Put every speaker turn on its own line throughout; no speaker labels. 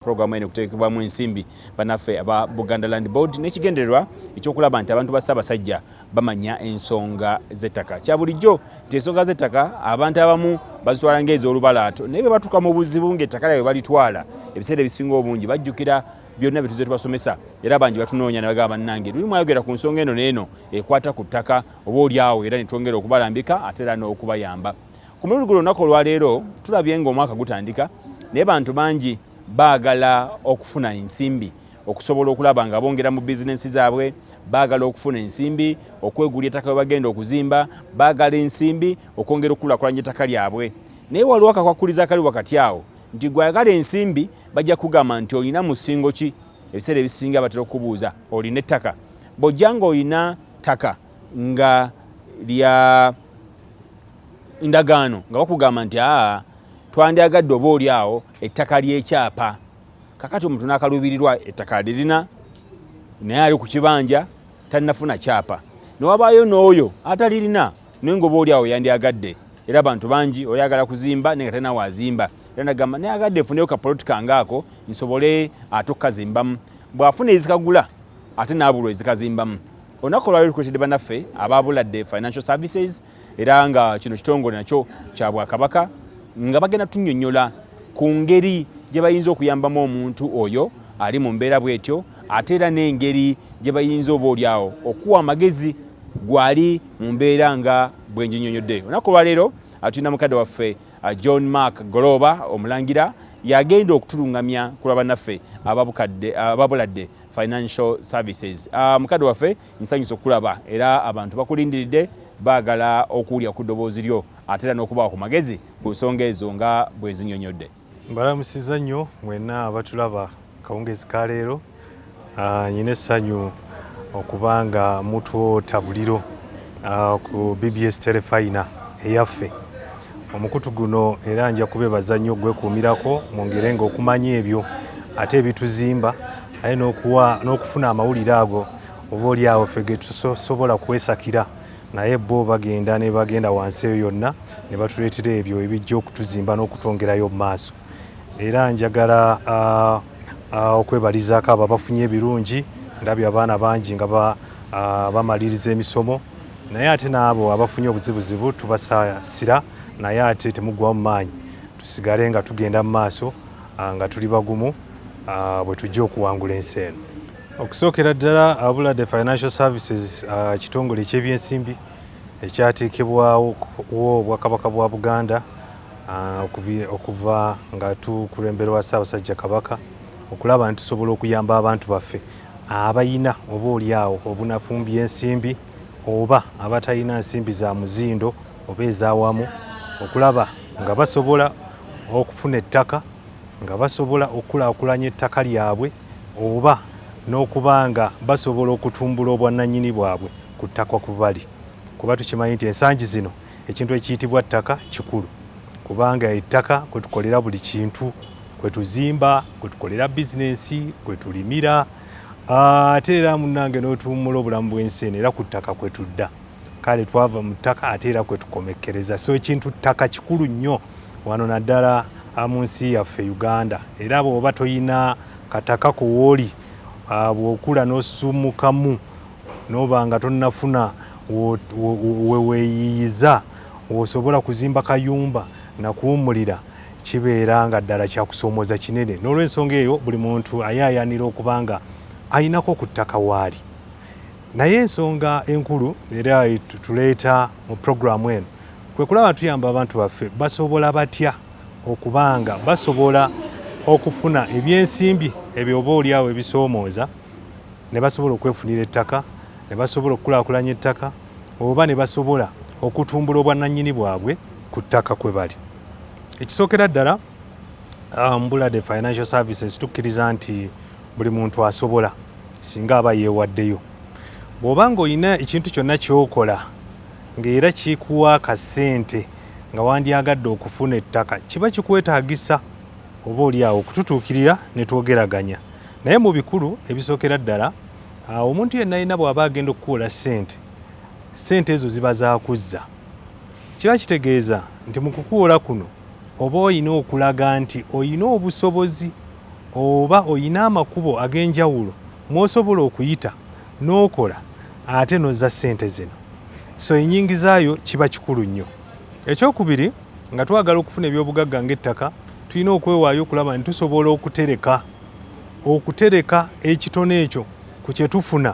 Pulogulaamu eno kuteekebwamu ensimbi banaffe aba Buganda Land Board n'ekigendererwa ekyokulaba nti abantu ba Ssaabasajja bamanya ensonga z'ettaka. Kya bulijjo nti ensonga z'ettaka abantu abamu bazitwala ng'ez'olubalaato naye bwe batuuka mu buzibu ng'ettaka lyabwe balitwala ebiseera ebisinga obungi bajjukira byonna bye tuzze tubasomesa era bangi batunoonya ne bagamba bannange luli mwayogera ku nsonga eno n'eno ekwata ku ttaka oba olyawo era ne twongera okubalambika ate era n'okubayamba. Ku mulundi guno olunaku olwaleero tulabye ng'omwaka gutandika naye bantu bangi baagala okufuna ensimbi okusobola okulaba nga bongera mu bizinensi zaabwe baagala okufuna ensimbi okwegulya ettaka bwe bagenda okuzimba baagala ensimbi okwongera okukulakulanya ettaka lyabwe naye waliwo akakwakkuliza akali wakati awo nti gwayagala ensimbi bajja kugamba nti olina musingo ki ebiseera ebisinga batera okubuuza olina ettaka bw'ojja ng'olina ttaka nga lya ndagaano nga bakugamba nti aa twandyagadde oba oli awo ettaka ly'ekyapa kakati omuntu n'akaluubirirwa ettaka lirina naye ali ku kibanja tannafuna kyapa newabaayo n'oyo atalirina naye nga oba oli awo yandyagadde era abantu bangi oyagala kuzimba naye nga talinawo azimba era nagamba naye agadde efuneyo kapoloti kange ako nsobole ate okukazimbamu bw'afuna ezikagula ate n'abulwa ezikazimbamu Olunaku olwali lukuletedde banaffe aba Buladde Financial Services era nga kino kitongole nakyo kya Bwakabaka nga bagenda tunyonyola ku ngeri gye bayinza okuyambamu omuntu oyo ali mu mbeera bwetyo ate era n'engeri gye bayinza oba olyawo okuwa amagezi gwali mu mbeera nga bwenjinyonyodde olunaku olwaleero atulina mukadde waffe uh, john mark goloba omulangira yagenda okutulungamya ku lwa banaffe ababuladde financial services uh, mukadde waffe nsanyusa okulaba era abantu bakulindiridde baagala okuwulira ku ddoboozi lyo ate era n'okubawa ku magezi ku nsonga ezo nga bwe zinyonyodde mbalamusiza
nnyo mwenna abatulaba kawungezi ka leero ah, nyina essanyu okuba nga mutwota buliro ah, ku bbs telefayina eyaffe Omukutu guno era nja kubebaza nnyo okwekuumirako mu ngere nga okumanya ebyo ate ebituzimba aye n'okufuna amawulire ago oba oli awo fe getusobola kwesakira naye bo bagenda ne bagenda wansi eyo yonna ne batuleetera ebyo ebijja okutuzimba n'okutwongerayo mu maaso era njagala uh, ah, okwebalizaako abo abafunye ebirungi ndabye abaana bangi nga ah, bamaliriza emisomo naye ate n'abo abafunye obuzibuzibu tubasaasira naye ate temuggwamu maanyi tusigale nga tugenda mu maaso ah, nga tuli bagumu bwe tujja okuwangula ensi eno okusookera ddala abula the financial services kitongole eky'ebyensimbi ekyateekebwawo obwakabaka bwa buganda Ah, okuva nga tukulemberwa Ssaabasajja Kabaka okulaba nti tusobola okuyamba abantu baffe abayina oba olyawo obunafumbya ensimbi oba abatalina nsimbi za muzindo oba ezawamu okulaba nga basobola okufuna ettaka nga basobola okukulakulanya ettaka lyabwe oba n'okuba nga basobola okutumbula obwannanyini bwabwe ku ttaka ku bali kuba tukimanyi nti ensangi zino Ekintu ekiyitibwa ttaka kikulu kubanga ettaka kwe tukolera buli kintu, kwe tuzimba, kwe tukolera bizinensi, kwe tulimira ah, ate era munnange n'otuwummula obulamu bw'ensi eno era ku ttaka kwe tudda. Kale twava mu ttaka ate era kwe tukomekkereza. So ekintu ttaka kikulu nnyo wano naddala ah, mu nsi yaffe Uganda era bw'oba toyina kataka ko wooli ah, bw'okula n'osummukamu N'oba nga tonnafuna we weeyiiyiza w'osobola kuzimba kayumba na kuwummulira kibeera nga ddala kya kusoomooza kinene. N'olwensonga eyo buli muntu ayaayaanira okuba nga alinako ku ttaka waali. Naye ensonga enkulu era tuleeta mu pulogulaamu eno kwe kulaba tuyamba abantu baffe basobola batya okuba nga basobola okufuna ebyensimbi ebyo oba olyawo ebisoomooza ne basobola okwefunira ettaka ne basobola okukulaakulanya ettaka oba ne basobola okutumbula obwannannyini bwabwe ku ttaka kwe bali ekisookera ddala um, mbula the financial services tukkiriza nti buli muntu asobola singa aba yeewaddeyo bw'oba ng'olina ekintu kyonna ky'okola ng'era kikuwa akasente nga wandyagadde okufuna ettaka kiba kikwetaagisa oba oli awo okututuukirira ne twogeraganya naye mu bikulu ebisookera ddala ah, omuntu yenna yina bw'aba agenda okukuula ssente ssente ezo ziba zakuzza kiba kitegeeza nti mu kukuula kuno oba olina okulaga nti olina obusobozi oba olina amakubo ag'enjawulo mwosobola okuyita n'okola ate nozza ssente zino so enyingizaayo kiba kikulu nnyo ekyokubiri nga twagala okufuna ebyobugagga ng'ettaka tulina okwewaayo okulaba nti tusobola okutereka okutereka ekitone ekyo ku kye tufuna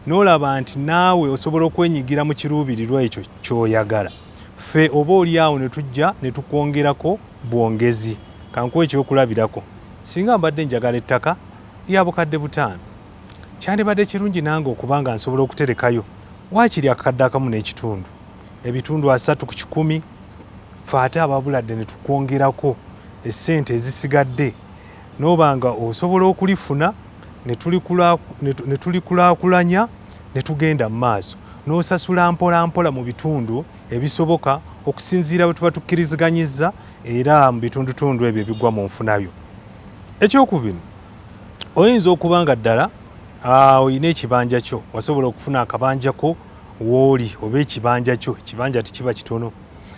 n'olaba nti naawe osobola okwenyigira mu kiruubirirwa ekyo ky'oyagala ffe oba oli awo ne tujja ne tukwongerako bwongezi kankuwa ekyokulabirako singa mbadde njagala ettaka lya bukadde butaano kyandibadde kirungi nange okuba nga nsobola okuterekayo waakiri akakadde akamu n'ekitundu ebitundu asatu ku kikumi fe ate ababuladde ne tukwongerako essente ezisigadde n'oba nga osobola okulifuna ne tulikulaakulanya ne tugenda mu maaso n'osasula mpolampola mu bitundu ebisoboka okusinziira bwe tuba tukkiriziganyizza era mu bitundutundu ebyo ebigwa mu nfunayo ekyokubiri oyinza okuba nga ddala ah, olina ekibanja kyo wasobola okufuna akabanja ko wooli oba ekibanja kyo ekibanja tekiba kitono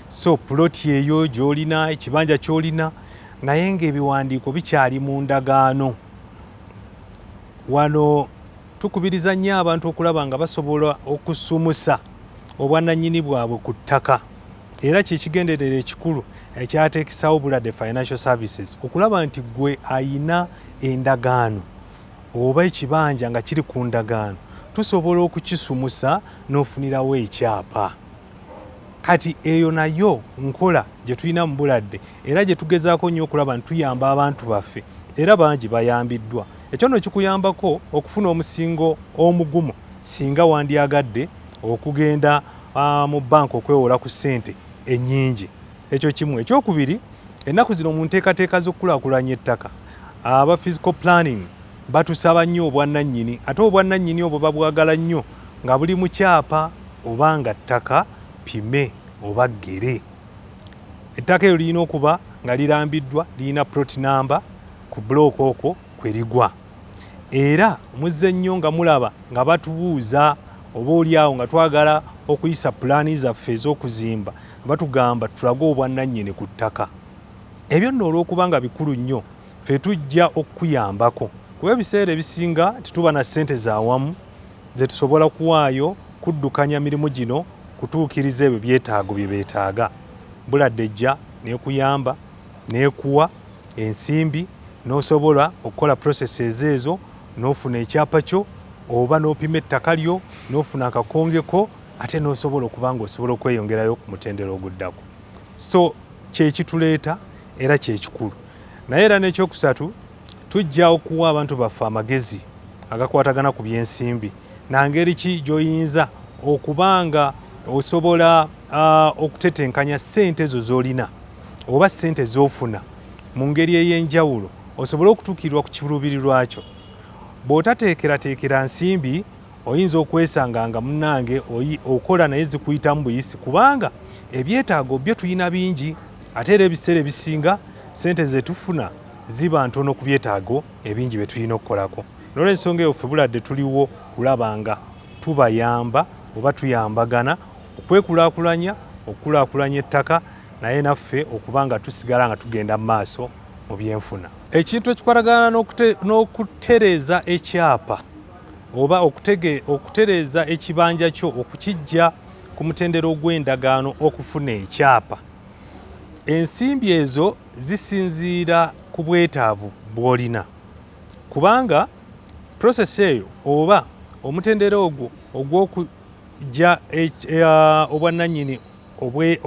so puloti eyo gyolina ekibanja kyolina naye ng'ebiwandiiko bikyali mu ndagaano wano tukubiriza nnyo abantu okulaba nga basobola okusumusa obwananyini bwabwe ku ttaka era kyekigenderera ekikulu ekyateekisawo bulade financial services okulaba nti gwe ayina endagaano oba ekibanja nga kiri ku ndagaano tusobola okukisumusa n'ofunirawo ekyapa kati eyo nayo nkola gye tulina mu buladde era gye tugezaako nnyo okulaba nti tuyamba abantu baffe era bangi bayambiddwa ekyo no kikuyambako okufuna omusingo omugumu singa wandyagadde okugenda ah, mu banka okwewola ku ssente ennyingi ekyo kimu ekyokubiri ennaku zino mu nteekateeka z'okukulakulanya ettaka aba physical planning batusaba nnyo obwannannyini ate obwannannyini obwo babwagala nnyo nga buli mu kyapa oba nga ttaka pime oba ggere Ettaka eryo lirina okuba nga lirambiddwa, lirina plot namba ku bulooka okwo kwe ligwa. Era muzze nnyo nga mulaba nga batubuuza oba oli awo nga twagala okuyisa pulaani zaffe ez'okuzimba batugamba tulage obwannannyini ku ttaka. Ebyo nno olw'okuba nga bikulu nnyo ffe tujja okukuyambako kuba ebiseera ebisinga tetuba na ssente za wamu ze tusobola kuwaayo kuddukanya mirimu gino kutuukiriza ebyo byetaago bye beetaaga buladde ejja nekuyamba nekuwa ensimbi n'osobola okukola processes ezo n'ofuna ekyapa kyo oba n'opima ettaka lyo n'ofuna akakongeko ate n'osobola okuba nga osobola okweyongerayo ku mutendera oguddako so kyekituleeta era kyekikulu naye era n'ekyokusatu tujja okuwa abantu baffe amagezi agakwatagana ku byensimbi nangeri ki gyoyinza okuba nga osobola uh, okutetenkanya sente ezo zolina oba sente zofuna mu ngeri ey'enjawulo osobole okutuukirirwa ku kiruubirirwa kyo bw'otateekerateekera nsimbi oyinza okwesanga nga munnange okola naye zikuyitamu buyisi kubanga ebyetaago byo tulina bingi ate era ebiseera ebisinga sente zetufuna ziba ntono ku byetaago ebingi bye tulina okukolako nolwensonga eyo ffe buladde tuliwo kulaba nga tubayamba oba tuyambagana okwekulakulanya okukulakulanya ettaka naye naffe okuba nga tusigala nga tugenda mu maaso mu byenfuna ekintu ekikwatagana n'okutereeza ekyapa oba okutereeza ekibanja kyo okukijja ku mutendera ogw'endagaano okufuna ekyapa ensimbi ezo zisinziira ku bwetaavu bw'olina kubanga prosesi eyo oba omutendera ogwo ogw'okujja eh, eh, obwannannyini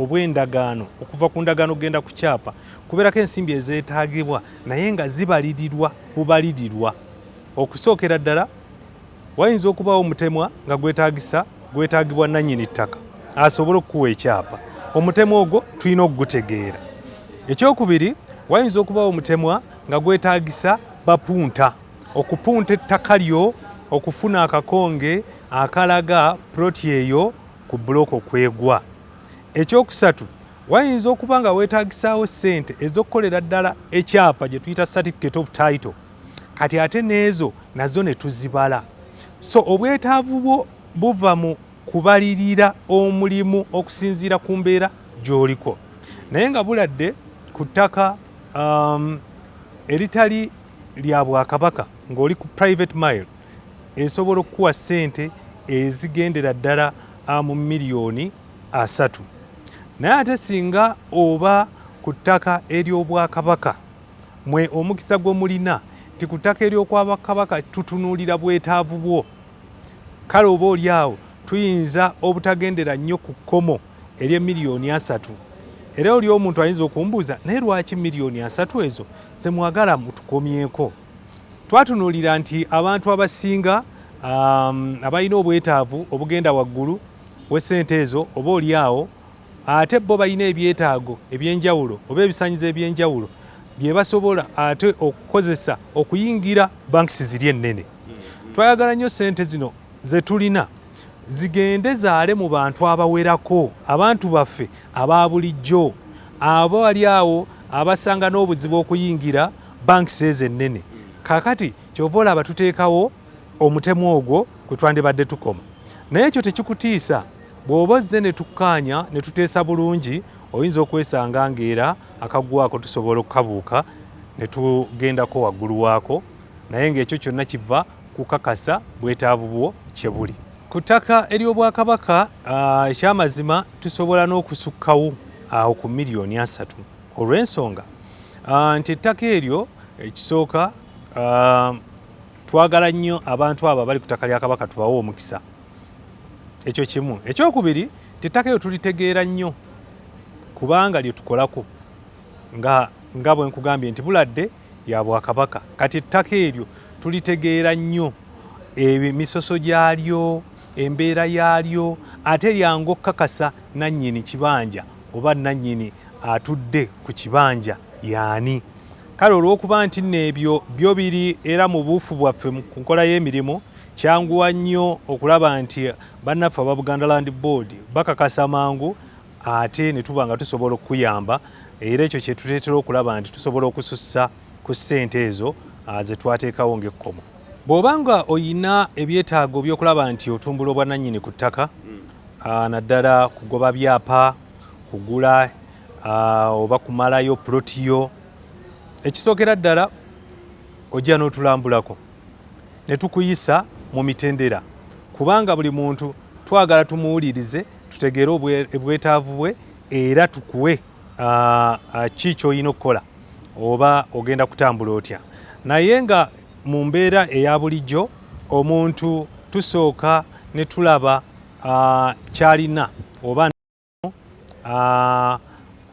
obw'endagaano okuva ku ndagaano okugenda ku kyapa kubeerako ensimbi ezeetaagibwa naye nga zibalirirwa bubalirirwa okusookera ddala Wayinza okubaawo omutemwa nga gwetaagisa gwetaagibwa nannyini ttaka asobole okukuwa ekyapa. Omutemwa ogwo tulina okugutegeera. Ekyokubiri, wayinza okubaawo omutemwa nga gwetaagisa bapunta okupunta ettaka lyo okufuna akakonge akalaga puloti eyo ku buloko kwegwa. Ekyokusatu, wayinza okuba nga weetagisaawo ssente ez'okukolera ddala ekyapa gye tuyita certificate of title. kati ate n'ezo nazo ne tuzibala so obwetaavu bwo buva mu kubalirira omulimu okusinziira ku mbeera gy'oliko naye nga buladde ku ttaka um, eritali lya bwakabaka ng'oli ku private mile esobola okukuwa ssente ezigendera ddala uh, mu miliyoni asatu naye ate singa oba ku ttaka ery'obwakabaka Mwe omukisa gwe mulina nti ku ttaka ery'okwa Bakabaka tutunuulira bwetaavu bwo. Kale oba oli awo tuyinza obutagendera nnyo ku kkomo ery'e miliyoni asatu. Era oli omuntu ayinza okumbuuza naye lwaki miliyoni asatu ezo ze mwagala mutukomyeko? Twatunuulira nti abantu abasinga um, abalina obwetaavu obugenda waggulu w'essente ezo oba oli awo ate bo balina ebyetaago ebyenjawulo oba ebisanyizo ebyenjawulo byebasobola ate okukozesa okuyingira banks ziri ennene twayagala nnyo sente zino zetulina zigende zaale mu bantu abawerako abantu baffe aba bulijjo abo wali awo abasanga n'obuzibu okuyingira banks ezo ennene kakati kyova olaba tuteekawo omutemu ogwo kwe twandibadde tukoma naye ekyo tekikutiisa Bw'oba ozze ne tukkaanya ne tuteesa bulungi oyinza okwesanga ng'era akaggwako tusobola okukabuuka ne tugendako waggulu waako naye ng'ekyo kyonna kiva kukakasa bwetaavu bwo kye buli. Ku ttaka ery'Obwakabaka ah, ekyamazima tusobola n'okusukkawo awo ku miliyoni asatu olw'ensonga ah, nti ettaka eryo ekisooka ah, twagala nnyo abantu abo abali ku ttaka lya Kabaka tubawe omukisa. ekyo kimu ekyokubiri tettaka eyo tulitegeera nnyo kubanga lyetukolako nga nga bwe nkugambye nti buladde ya bwakabaka kati ettaka eryo tulitegeera nnyo emisoso gyalyo embeera yaalyo ate lyangu okukakasa nannyini kibanja oba nannyini atudde ku kibanja yaani kale olw'okuba nti nno ebyo byo biri era mu buufu bwaffe ku nkola y'emirimu Kyanguwa nnyo okulaba nti bannaffe aba Buganda Land Board bakakasa mangu ate ne tuba nga tusobola okukuyamba era ekyo kye tuteetera okulaba nti tusobola okusussa ku ssente ezo ah, ze twateekawo ng'ekkomo. Bw'oba nga olina ebyetaago by'okulaba nti otumbula obwannannyini ku ttaka hmm. ah, naddala kugoba byapa kugula ah, oba kumalayo pulotiyo ekisookera ddala ojja n'otulambulako ne tukuyisa mu mitendera kubanga buli muntu twagala tumuwulirize tutegeere obwetaavu bwe era tukuwe ki kyolina okukola oba ogenda kutambula otya naye nga mu mbeera eya bulijjo omuntu tusooka ne tulaba kyalina oba ah,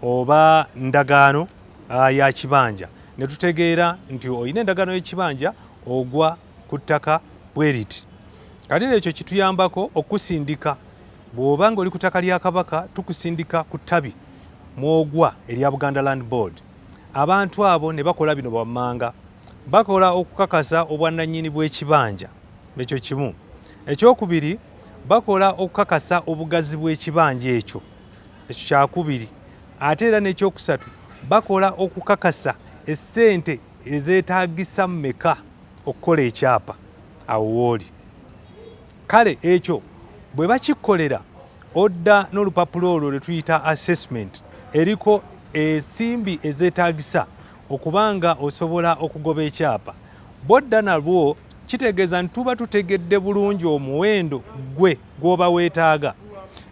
oba ndagaano ah, ya kibanja ne tutegeera nti olina endagaano y'ekibanja ogwa ku ttaka bweriti kati era ekyo kituyambako okusindika bw'oba nga oli ku ttaka lya kabaka tukusindika ku ttabi mwogwa erya buganda land board abantu abo ne bakola bino bwammanga bakola okukakasa obwannannyini bw'ekibanja ekyo kimu ekyokubiri bakola okukakasa obugazi bw'ekibanja ekyo ekyo kyakubiri ate era n'ekyokusatu bakola okukakasa essente ezeetagisa mumeka okukola ekyapa awo wooli kale ekyo bwe bakikolera odda n'olupapula olwo lwe tuyita assessment eriko ensimbi ezeetagisa okuba nga osobola okugoba ekyapa bodda nalwo kitegeeza nti tuba tutegedde bulungi omuwendo gwe gw'oba weetaaga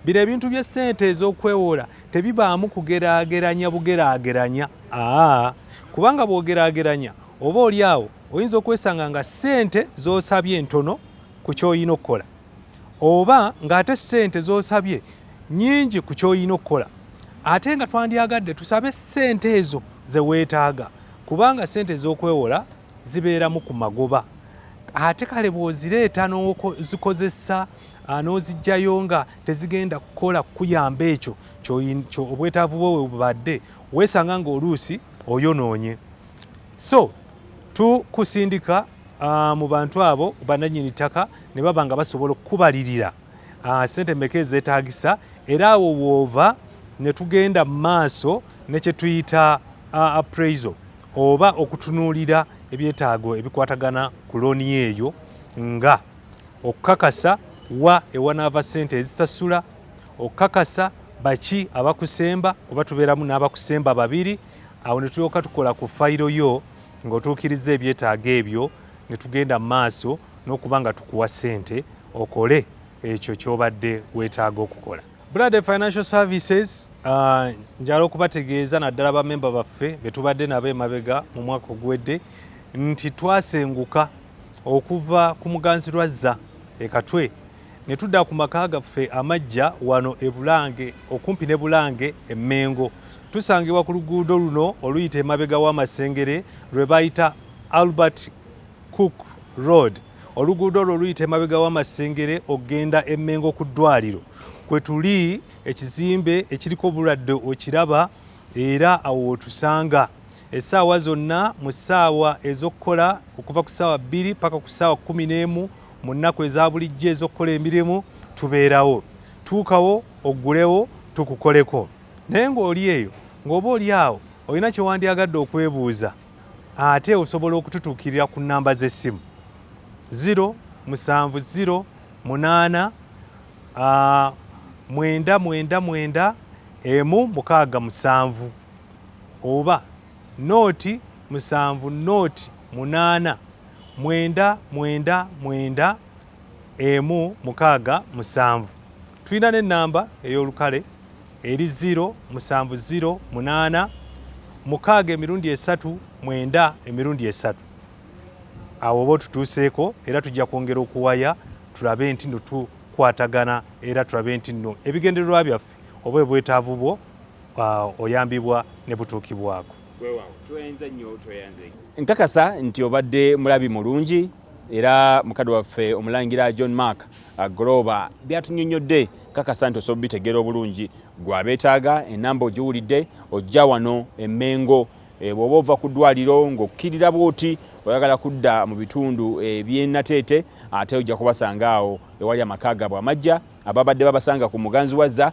bino ebintu by'essente ez'okwewola tebibaamu kugeraageranya bugeraageranya aa kubanga bw'ogeraageranya oba oli awo oyinza okwesanga nga ssente z'osabye ntono ku ky'olina okukola oba ng'ate ssente z'osabye nnyingi ku ky'olina okukola ate nga twandyagadde tusabe ssente ezo ze weetaaga kubanga ssente ez'okwewola zibeeramu ku magoba ate kale bw'ozireeta n'ozikozesa ah, n'ozijjayo nga tezigenda kukola kukuyamba ekyo obwetaavu bwo webubadde weesanga ng'oluusi oyonoonye so tukusindika ah, mu bantu abo bananyini ttaka ne baba nga basobola okukubalirira ah, sente meka ezetagisa era awo woova ne tugenda mu maaso ne kye tuyita ah, appraisal oba okutunuulira ebyetaago ebikwatagana ku looni eyo nga okukakasa wa ewanaava sente ezisasula okukakasa baki abakusemba kuba tubeeramu n'abakusemba babiri awo ne tulyoka tukola ku fayiro yo ng'otuukiriza ebyetaago ebyo ne tugenda mu maaso n'okuba nga tukuwa ssente okole ekyo kyobadde weetaaga okukola brad financial services uh, njala okubategeeza naddala bamemba baffe betubadde nabo emabega mu mwaka oguwedde nti twasenguka okuva ku muganzi lwazza ekatwe ne tudda ku maka gaffe amajja wano e bulange okumpi ne bulange emmengo tusangibwa ku luguudo luno oluyita emabega w'amasengere lwe bayita albert Cook Road, oluguudo olwo oluyita emabega w'amasengere okugenda e Mmengo ku ddwaliro kwe tuli ekizimbe ekiriko obulwadde okiraba era awo wotusanga essaawa zonna mu ssaawa ez'okukola okuva ku ssaawa bbiri paka ku ssaawa kumi n'emu mu nnaku eza bulijjo ez'okukola emirimu tubeerawo tuukawo oggulewo tukukoleko naye ng'oli eyo ng'oba oli awo olina kyewandyagadde okwebuuza ate osobola okututuukirira ku namba z'essimu 0 musanvu 0 munaana ah, mwenda mwenda mwenda emu mukaaga musanvu oba nooti musanvu nooti munaana mwenda mwenda mwenda emu mukaaga musanvu Tulina n'ennamba ey'olukale eri 0 musanvu 0 munaana mukaaga emirundi esatu mwenda emirundi esatu awo oba otutuuseeko era tujja kwongera okuwaya tulabe nti no tukwatagana era tulabe nti no ebigendererwa byaffe oba ebwetaavu bwo uh, oyambibwa ne butuukibwako
nkakasa nti obadde mulabi mulungi era mukadde waffe omulangira john mark agolooba byatunyonyodde kakasa nti osobola bitegeera obulungi gwabeetaaga enamba ogiwulidde ojja wano emengo eh, bwoba ova ku ddwaliro ng'okkirira bwoti oyagala kudda mu bitundu ebyenateete ate ojja kubasanga awo ewali amaka gaabwe amajja ababadde babasanga ku muganzi wazza